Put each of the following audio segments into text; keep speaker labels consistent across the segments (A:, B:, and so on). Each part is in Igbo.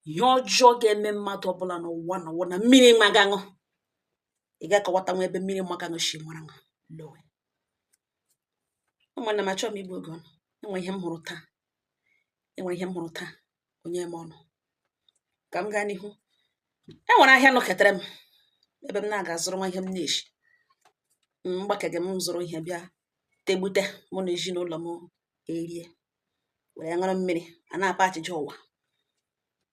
A: ihe ọjọọ ga-eme mmadụ ọbụla n'ụwa n'ụwa na mmiri magaṅụ ị ga-akọwata nwa ebe mmiri magaṅụ si mara ṅụ lowe ụmụnna m achọghị m igbu oge unu enwe ihe m hụrụ taa enwe ihe m hụrụ taa o nye m ọnụ ka m gaa n'ihu e nwere ahịa nọketere m ebe m na-aga zụrụ nwa ihe m na-eshi mgbakege m zụrụ ihe bịa tegbute mụ na ezinụlọ m erie were ṅụrụ mmiri a na-akpa achịcha ụwa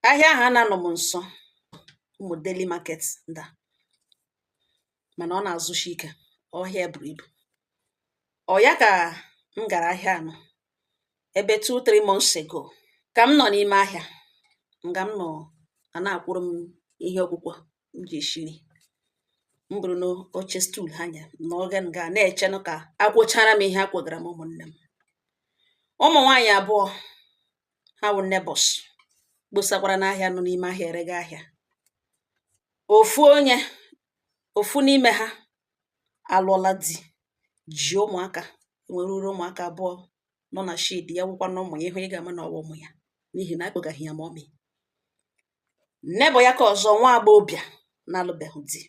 A: ahịa ahụ a na-anọ m nso ụmụ daily market nda mana ọ na-azụshi ike ọ ahịa buru ibu ọ ya ka m gara ahịa anọ ebe two three months ago ka m nọ n'ime ahịa nga m nọ a na-akwọrọ m ihe ọkwụkwọ m ji eshi nri m bụrụ n'oche stool ha nye n'oge m ga na-echenụ ka a kwọchara m ihe a kwọgara m ụmụnne m ụmụ nwaanyị abụọ ha wụ neighbors kposakwara n'ahịa nọ n'ime ahịa erega ahịa ofu onye ofu n'ime ha alụọla di ji ụmụaka nwere uru ụmụaka abụọ nọ na shade ya wụkwanụ ụmụ ya ị hụ ị ga-ama na ọ wụ ụmụ ya n'ihi na akpọga ha ya mummy Neighbor ya ke ọzọ nwa agbọghọbịa na-alụbeghị di.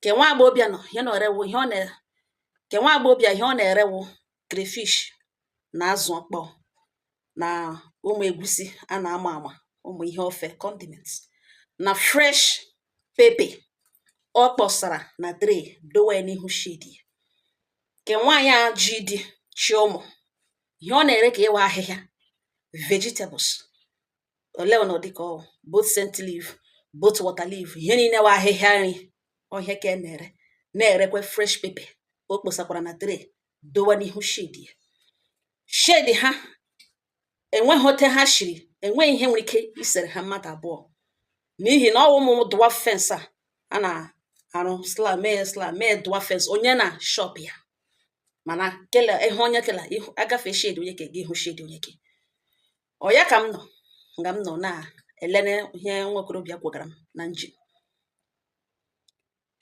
A: Ke nwa agbọghọbịa nọ ihe ọ na-ere wụ ihe ọ na ke nwa agbọghọbịa ihe ọ na-ere wụ crayfish na azụ ọkpọọ na ụmụ egusi a na-ama ama ụmụ ihe ofe condiments na fresh pepper ọ kpọsara na tray dowe ya n'ihu shade ya. Ke nwaanyị a ji di ji ụmụ ihe ọ na-ere ke ya wụ ahịhịa vegetables ole ọ nọ dịka ọ both scent leaf both water leaf ihe niile wụ ahịhịa nri ọ ya ka ọ na-ere na-erekwa fresh pepper o kposakwara na tray dowe n'ihu shade ya shade ha enweghị otu ha shiri enweghị ihe nwere ike isere ha mmadụ abụọ n'ihi na ọ wụ ụmụ dwarf fence a a na-arụ sla mee sla mee dwarf fence onye na shop ya mana kele ihe onye kela ihu agafe shade onye ke gị ihu shade onye ke ọ ya ka m nọ nga m nọ na-ele ihe nwa okorobịa kwọgara m na engine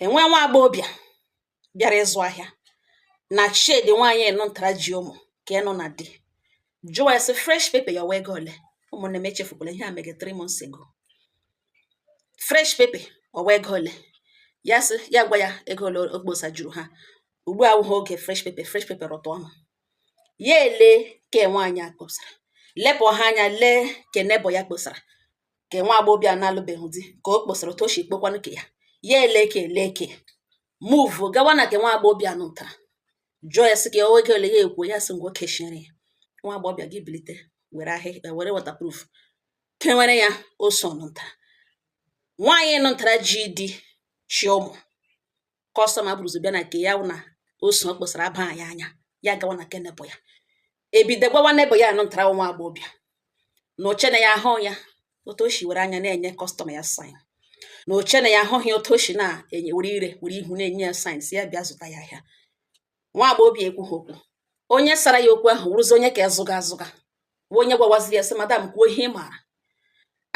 A: enwe nwa agbọghọbịa bịara ịzụ ahịa na shade nwaanyị nọ ntara ji ụmụ ke nọ na di jụọ ya sị fresh pepper ya wụ ego ole ụmụnne m echefukwala ihe a mege three months ago fresh pepper ọ wụ ego ole ya sị ya gwa ya ego ole o kposajuru ha ugbu a wụghị oge fresh pepper fresh pepper rịtụ ọnụ ya ele ke nwaanyị a kposara lepụ ha anya lee ke neighbor ya kposara ke nwa agbọghọbịa na-alụbeghị di ka o kposara otu o shi kpokwanụ ke ya ya ele ka ele ka move gawa na ke nwa agbọghọbịa nụ ntara jụọ ya sị ka o ego ole ya ekwu ya sị ngwa keshiere ya nwa agbọghọbịa gị bilite were ahịhịa eh, were waterproof kewere ya oso nụ ntara nwaanyị nụ ntara ji di chị ụmụ kọstọma bụrụzi bịa na ke ya na oso o kposara aba ya anya ya gawa na ke neighbor ya ebido gwawa neighbor ya nụ ntara nwa agbọbịa na o che na ya ahụ ya otu o shi were anya na-enye kọstọma ya sign na o che na ya ahụghị otu o shi na-enye were ire were ihu na-enye ya sign sị ya bịa zụta ya ahịa nwa agbọghọbịa ekwughị okwu onye sara ya okwu ahụ wụrụzi onye ka zụga azụga bụ onye gwawaziri ya sị madam kwuo ihe ị maara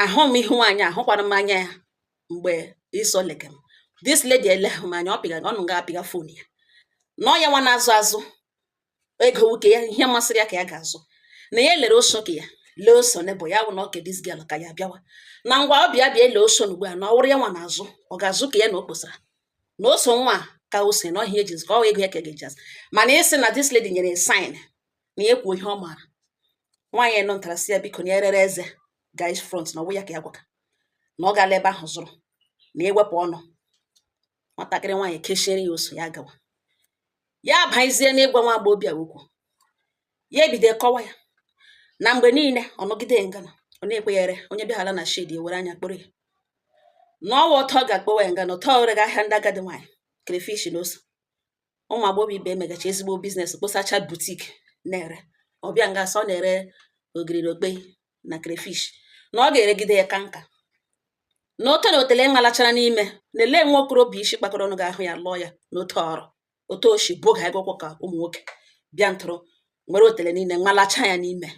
A: ahụ m ihu nwaanyị ahụkwara m anya ya mgbe iso lege m this lady eleghị m anya ọ pịga ọ nọ ga apịga fon ya na ọ ya nwa na-azụ azụ ego wụ ke ya ihe masịrị ya ka ya ga-azụ na ya lere oso ke ya lee oso neighbor ya wụ na ọ ke this girl ka ya bịawa na ngwa ọ bịa bịa ele oso ugbu a na ọ wụrụ ya nwa na-azụ ọ ga-azụ ke ya na o kposara na oso nwa ka o si na ọhịa ejizi ka ọ ego ya ka ga-eji azụ mana ị sị na this lady nyere sign na ya kwuo ihe ọ maara nwaanyị nụ ntara sị ya biko na erere eze guys front na ọ wụ ya ka ya gwaga na ọ gaala ebe ahụ zụrụ na ewepụ ọnụ nwatakịrị nwaanyị keshiere ya oso ya gawa ya abaizie n'ịgwa nwa agbọghọbịa okwu ya ebido kọwa ya na mgbe niile ọ nọgide ngana ọ na-ekwenyere onye bịaghara na shed ewere anya kpụrụ ya na ọ wụ ọtọ ga-akpọwa ya ngana ọtọ o rega ahịa ndị agadi nwaanyị crayfish na ose ụmụ agbọghọ ibe emegacha ezigbo biznes kposacha boutique na-ere ọ bịa nga a sọ na-ere ogiri na okpei na crayfish na ọ ga-eregide ya kaa nka na ote na otele malachara n'ime na ele nwa okorobịa isi kpakọrọ ọnụ ga-ahụ ya lụọ ya n'otu ọrụ otu o shi boga egwụkwọ ka ụmụ nwoke bịa ntụrụ nwere otele niile malacha ya n'ime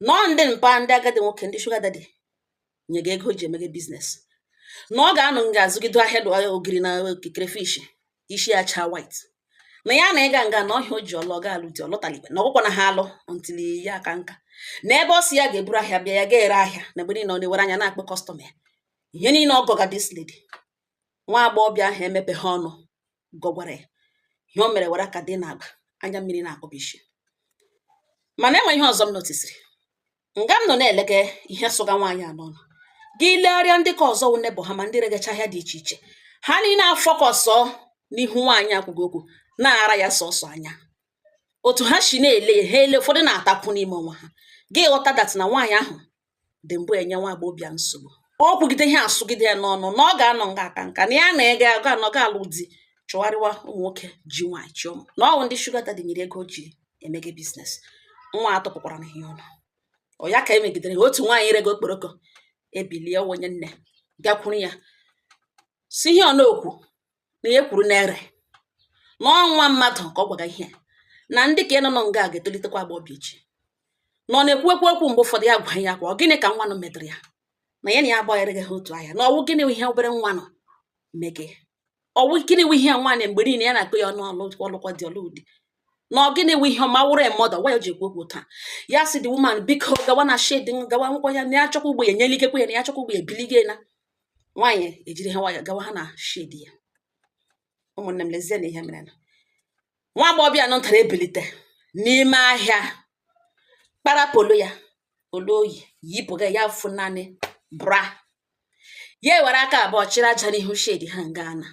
A: na ọ ndị mpa ndị agadi nwoke ndị sugar daddy nye gị ego ji emege biznes na ọ ga-anọ nga azụgido ahịa dụ ahịa ogiri na crayfish isi ya chaa white na ya na ịga nga na ọhịa o ji ọlụ ọ ga-alụ di ọlụtalikwe na ọgwụkwa na ha alụ until ya aka nka na ebe ọ si ya ga-eburu ahịa bịa ya ga-ere ahịa na mgbe niile ọ na-ewere anya na-akpọ kọstọma ya ihe niile ọ gwaga this lady nwa agbọghọbịa ahụ emepeghị ọnụ gwagwara ya ihe o mere were aka dị n'agba anya mmiri na-akpọbishi mana e nwe ihe ọzọ m notisiri nga m nọ na-elege ihe sụga nwaanyị a n'ọnụ gị legharịa ndị ka ọzọ wụ neighbor ha ma ndị regacha ahịa dị iche iche ha niile afọkọsọ n'ihu nwaanyị ekwughị okwu na-ara ya sọsọ anya otu ha shi na-ele ya ha ele ụfọdụ na-atakwu n'ime onwe ha gị ghọta that na nwaanyị ahụ dị mbụ enye nwa agbọghọbịa nsogbu ọ kwugide ihe asụgide ya n'ọnụ na ọ ga-anọ nga a kaa nka na ya na ego aga anọ ga alụ di chụgharịwa ụmụ nwoke ji nwaanyị chụọ m na ọ wụ ndị shuga dadi nyere ego ji emege biznes nwa atụpụkwara na ihe ọnụ ọ ya ka emegidere otu nwaanyị rege okporoko ebilie onye nne gakwuru ya sị ihe ọ na-ekwu na ihe kwuru na-ere na ọ nwa mmadụ ka ọ gwaga ihe na ndị ka ị nọ nọ nga a ga-etolitekwa agbọghọbịa echi na ọ na-ekwuwekwa okwu mgbe ụfọdụ ya gwa ya kwa ọ gịnị ka nwa nụ metụrụ ya na ya na ya agbaghịrịghị ha otu ahịa na ọ wụ gịnị ihe obere nwa nụ mege ọ wụ gịnị wụ ihe nwaanyị mgbe niile ya na-akọ ya ọnụ ọ lụ ọ lụkwa di ọ lụghị di na ọ gịnị wụ ihe ọ ma wụrụ mmadụ gwa ya ji ekwu okwu taa ya sị the woman biko gawa na shedi gawa nkwụkwọ ya na ya chọkwa ugbo ya nyela ikekwe ya na ya chọkwa ugbo ya ebiligo na nwaanyị ejiri ha nwayọ gawa ha na shedi ya ụmụnne m lezie na ihe mere na nwa agbọghọbịa nụ ntara ebilite n'ime ahịa kpara polo ya olu o yi yipụga ya fọ naanị bra ya ewere aka abụọ chịrị aja n'ihu shedi ha nga nụ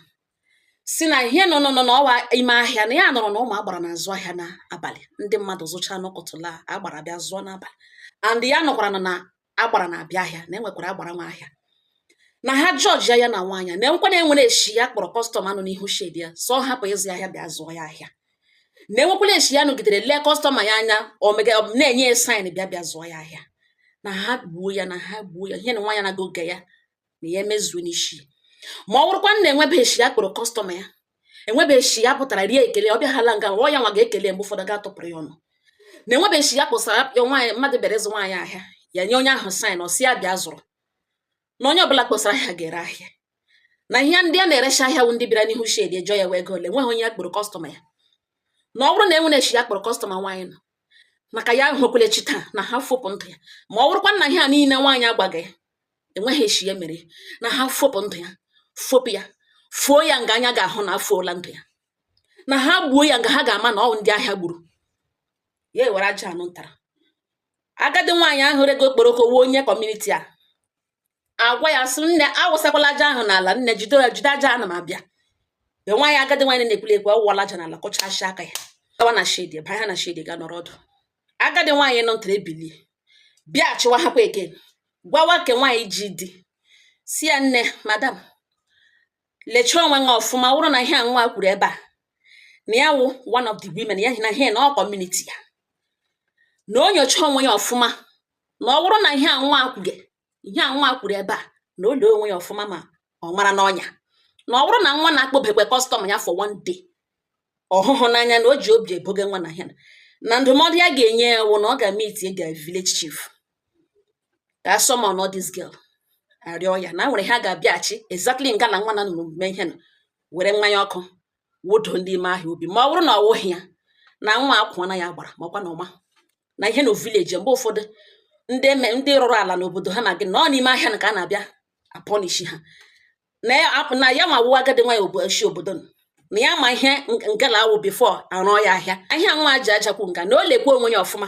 A: sị na ihe nọ nọ na ọ wụ ime ahịa na ya nụrụ na ụmụ agbara na-azụ ahịa n'abalị ndị mmadụ zụcha n'ụtụtụ agbara bịa zụọ n'abalị and ya nụkwara na agbara na-abịa ahịa na enwekwara agbara nwe ahịa na ha jọji ya na nwaanyị na enwekwa na enwere eshi ya kpọrọ kọstọma nọ n'ihu shedi ya sị ọ hapụ ịzụ ya ahịa bịa zụọ ya ahịa na enwekwara eshi ya nọgidere lee kọstọma ya anya omega na-enye ya saịn bịa bịa zụọ ya ahịa na ha gbuo ya na ha gbuo ya ihe na nwaanyị na-agọge ya na ya mezuo n'isi ma ọ bụrụkwa na enwebeghị eshi ya kpọrọ kọstọma ya enwebeghị eshi ya pụtara rie ekele ọ bịaghala nga ọ ya nwa ga-ekele mgbe ụfọdụ ga-atụpụrụ ya ọnụ na enwebeghị eshi ya kpọsara ya nwaanyị mmadụ bịara ịzụ nwaanyị ahịa ya nye onye ahụ saịn ọ sị ya bịa zụrụ na onye ọbụla kpọsara ahịa ga-ere ahịa na ihe ndị a na-erecha ahịa wụ ndị bịara n'ihu shedi jụọ ya ọ wụ ego ole nweghị onye ya kpọrọ kọstọma ya na ọ bụrụ na enwere eshi ya kpọrọ kọstọma nwaanyị nụ maka ya ahụkwala echi taa na ha fopụ ndụ ya ma ọ bụrụkwa na ihe a niile nwaanyị a gbaga ya enweghị eshi ya mere na ha fopụ ndụ ya fopụ ya foo ya nga anya ga-ahụ na efoola ndụ ya na ha gbuo ya nga ha ga-ama na ọ ndị ahịa gburu ya ewere aja nụ ntara agadi nwaanyị ahụ rege okporoko wụ onye kọmuniti agwa ya sị nne awụsakwala aja ahụ n'ala nne jide ya jide aja ana m abịa be nwaanyị agadi nwaanyị na-ekwuli ekwu ọ wụwala aja n'ala kụchasịa aka ya gawa na shedi banye na shedi ga nọrọ ọdụ agadi nwaanyị nụ ntara ebilie bịa achịwa ha kwa eke gwawa ke nwaanyị ji di sị ya nne madam lechaa onwe gị ọfụma ọ wụrụ na ihe a nwa kwuru ebe a na ya wụ one of the women ya na ihe na ọ kọmuniti ya na o nyochaa onwe ya ọfụma na ọ wụrụ na ihe a nwa kwuge ihe a nwa kwuru ebe a na o lee onwe ya ọfụma ma ọ mara n'ọnya na ọ bụrụ na nwa na-akpọbekwe kọstọma ya for one day ọhụhụ n'anya na o ji obi eboge nwa na ya na ndụmọdụ ya ga-enye ya wụ na ọ ga meet village chief ka a summon all this girl arịọ ya na nwere ihe a ga-abịa achị exactly nga na nwa na nụrụ mee ihe na were mmanya ọkụ wụdo ndị ime ahịa obi ma ọ bụrụ na ọ wụghị ya na nwa akwụna ya gbara makwa na ọma na ihe na vileji mgbe ụfọdụ ndị eme ndị rụrụ ala n'obodo ha na gị na ọ n'ime ahịa na ka a na-abịa apọnishi ha na ya apụ- na ya nwa wụ agadi nwa ya obo- si obodo nọ. na ya ma ihe ng- nga ala a wụ bifo arụọ ya ahịa ahịa nwa ji ajakwu nga na o lekwa onwe ya ọfụma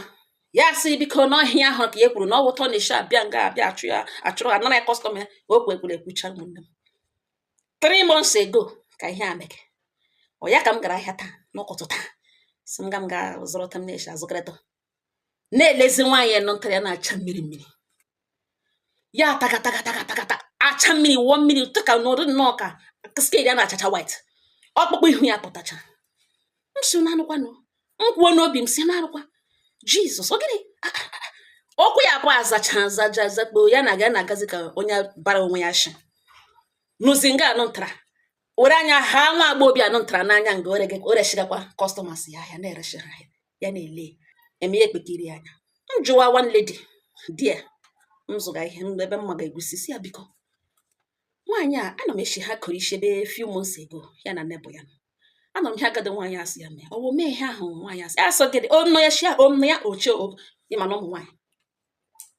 A: ya sị biko na ọ ihe ahụ ka ya kwuru na ọ wụ otu ọ na-eshi abịa nga abịa achụ ya achụrụ anara ya kọstọma ya okwu e kwuru ekwucha ụmụnne m three months ago ka ihe a mere ọ ya ka m gara ahịa taa n'ụtụtụ taa sị m ga m ga zụrụ otu m na-eshi azụkọrịta na-elezi nwaanyị nọ ntara ya na-acha mmiri mmiri ya takatakatakata acha mmiri wụọ mmiri tụka n'ụdị nnọọ ka skin ya na-achacha white ọkpụkpụ ihu ya pụtacha m sị unu anụkwanụ m kwuo n'obi m sị na arụkwa Jizọs ọ gịnị Ah, ah, ah. okwu ya abụọ azacha azaja azakpo ya na ga na-agazi ka onye bara onwe ya shi nụzi nga anụ ntara were anya ha nwa agbọghọbịa anụ ntara n'anya nga ore gị o reshigakwa kọstọmas ya ahịa na-ereshi ha ahịa ya na-ele eme ya ekpekiri ya anya m jụwa one lady there m zụga ihe m ebe mma ga-egusi sị ya biko nwaanyị a ana m eshi ha kụrụ isi ebe few months ago ya na nebo ya anọ m ihe agadi nwaanyị a sị ya mee ọ wụ mee ihe ahụ nwaanyị a sị asọ gịdị ọnụ ya shia ọnụ ya ọchị ịma na ụmụ nwaanyị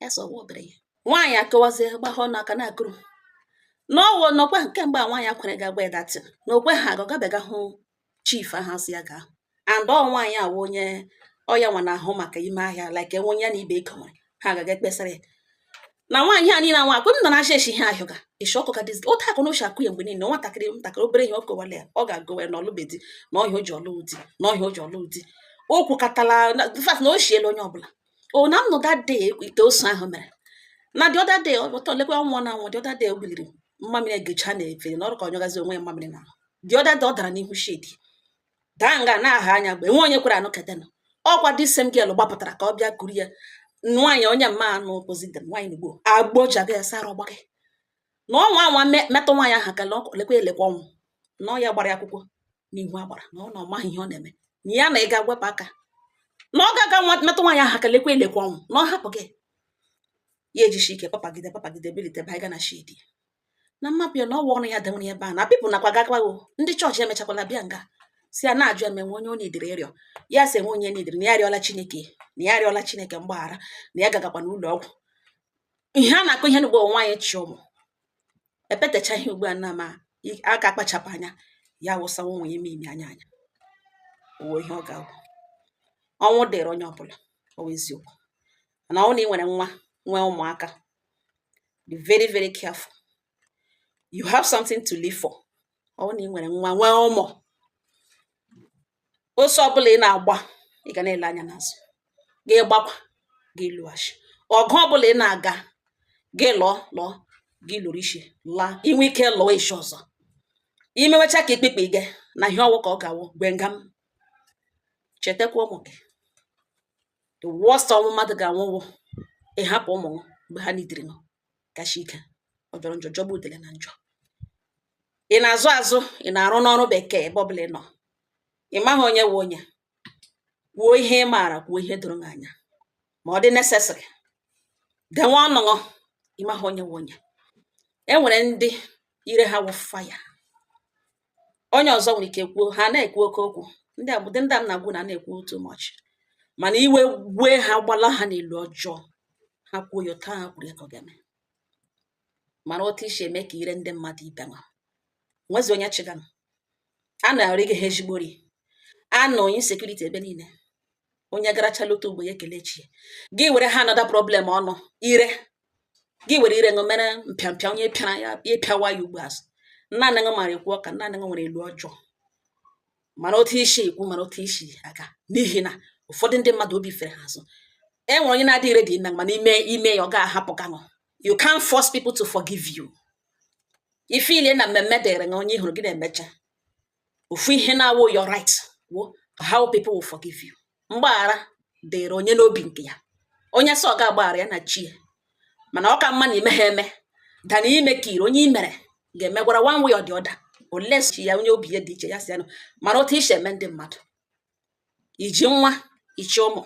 A: ya sọ ọwụ obere ya nwaanyị akọwazie gbahọ n'aka na-akọrọ na ọ wụ na ọkwa kemgbe a nwaanyị akwere ga-agba ya datin na ọkwa ha ga ọ gabiga hụ chief ahụ a sị ya gaa hụ and ọ nwaanyị a wụ onye ọ ya nwa na-ahụ maka ime ahịa like e nwee onye ya na ibe ego nwere ha agaga ekpesara ya na nwaanyị a niile anwa akụ m nọ na asha eshi ha ahịọga eshi ọkụ ka dịzi otu akụ na oshi akụ ya mgbe niile nwatakịrị ntakịrị obere ihe ọ kọwara ya ọ ga-agwa ya na ọ lụbe di na ọ ihe a o ji alụ di na ọ ihe a o ji alụ di o kwukatala na in fact na o shiela onye ọbụla o na nnụ that day ite ose ahụ mere na the other day ọtọ lekwa nwa na nwa the other day o biliri mmamịrị egecha na-efe na ọrụ ka ọ nyọgazi onwe ya mmamịrị na the other day ọ dara n'ihu shedi daa nga na-aha anya mgbe nwe onye kwere anụ ketenụ ọkwa the same girl gbapụtara ka ọ bịa kuru ya nwaanyị onye na-anọ opposite nwaanyị Igbo agbojaga ya sara ọgba gị na ọ nwaa anwa me- metụ nwaanyị ahụ aka lọkọ- lekwa elekwa ọnwụ na ọ ya gbara ya akwụkwọ n'ihu agbara na ọ na ọ maghị ihe ọ na-eme na ya na ị ga-ewepụ aka na ọ ga-aga nwa- metụ nwaanyị ahụ aka lekwa elekwa ọnwụ na ọ hapụ gị ya ejisi ike papagide papagide bilite ba ịga na shedi na mmapụ ya na ọ wụ ọrụ ya dewere ebe a na people nakwa gakwago ndị chọọchị emechakwala bịa nga si a na-ajụ eme nwe onye onye idiri ịrịọ ya si enwe onye n'idiri na ya arịọla chineke na ya arịọla chineke mgbaghara na ya gagakwa n'ụlọ ọgwụ ihe a na-akụ ihe n'ugbo nwaanyị chị ụmụ epetecha ihe ugbu a na ma akpachapụ anya ya wụsa nwa ya ime ime anya anya uwe ihe ọ ga-awụ ọnwụ dịrị onye ọbụla ọ wụ eziokwu na ọ wụ na ị nwere nwa nwee ụmụaka be very very careful you have something to live for ọ wụ na ị nwere nwa nwee ụmụ ọsọ ọbụla ị na-agba ị ga na-ele anya n'azụ gị gbakwa gị leghachi ọgụ ọbụla ị na-aga gị lụọ lụọ gị lụrụ isi laa i nwee ike lụọ echi ọzọ i mewecha ka ikpekpe gị na ihe ọ wụ ka ọ ga-awụ gwe nga m chetakwa ụmụ gị the worst ọnwụ mmadụ ga-anwụ wụ ịhapụ ụmụ ṅụ mgbe ha nidiri ṅụ kacha ike ọ jọrọ njọ jọgbu udele na njọ ị na-azụ azụ ị na-arụ n'ọrụ bekee ebe ọbụla ị nọ ị maghị onye wụ onye kwuo ihe ị maara kwuo ihe doro gị anya ma ọ dị necessary denwe ọnụ ṅụ ị maghị onye wụ onye e nwere ndị ire ha wụ fire onye ọzọ nwere ike kwuo ha na-ekwu oke okwu ndị a ndị a m na-agwa ṅụ na na-ekwu too much mana iwe wee ha gbala ha n'elu ọjọọ ha kwuo ya otu ha kwuru ya ka ọ ga-eme mara otu i si eme ka ire ndị mmadụ ibe nwa nwezi onye chịganụ a na-arị gị ha ezigbo ri a nọ insecurity ebe niile onye garachala otu ugbo ya ekele chi ya gị were ha another problem ọnụ ire gị were ire ṅụ mere mpịampịa onye pịara ya ya pịawa ya ugbo azụ naanị ṅụ mara ekwu ụka naanị ṅụ nwere elu ọjọọ mara otu i si ekwu mara otu i si aga n'ihi na ụfọdụ ndị mmadụ obi fere ha azụ e nwere onye na-adịghị ready na mana ime ime ya ọ ga-ahapụ ka ṅụ you can't force people to forgive you ife niile na mmemme dịrị ṅụ onye ị hụrụ gị na-emecha ofu ihe na-awụ your right wụ how people will forgive you mgbaghara dịrị onye n'obi nke ya onye sị ọ ga-agbaghara ya na chi ya mana ọ ka mma na i meha eme dana ime ka ire onye i mere ga-emegwara one way or the other unless chi ya onye obi ya dị iche ya si anụ mara otu i si eme ndị mmadụ i ji nwa ị chị ụmụ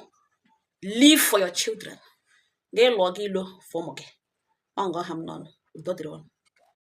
A: live for your children gị lụọ gị ilo for ụmụ gị ọ nga ọ ha m n'ọnụ udo dịrị ụnụ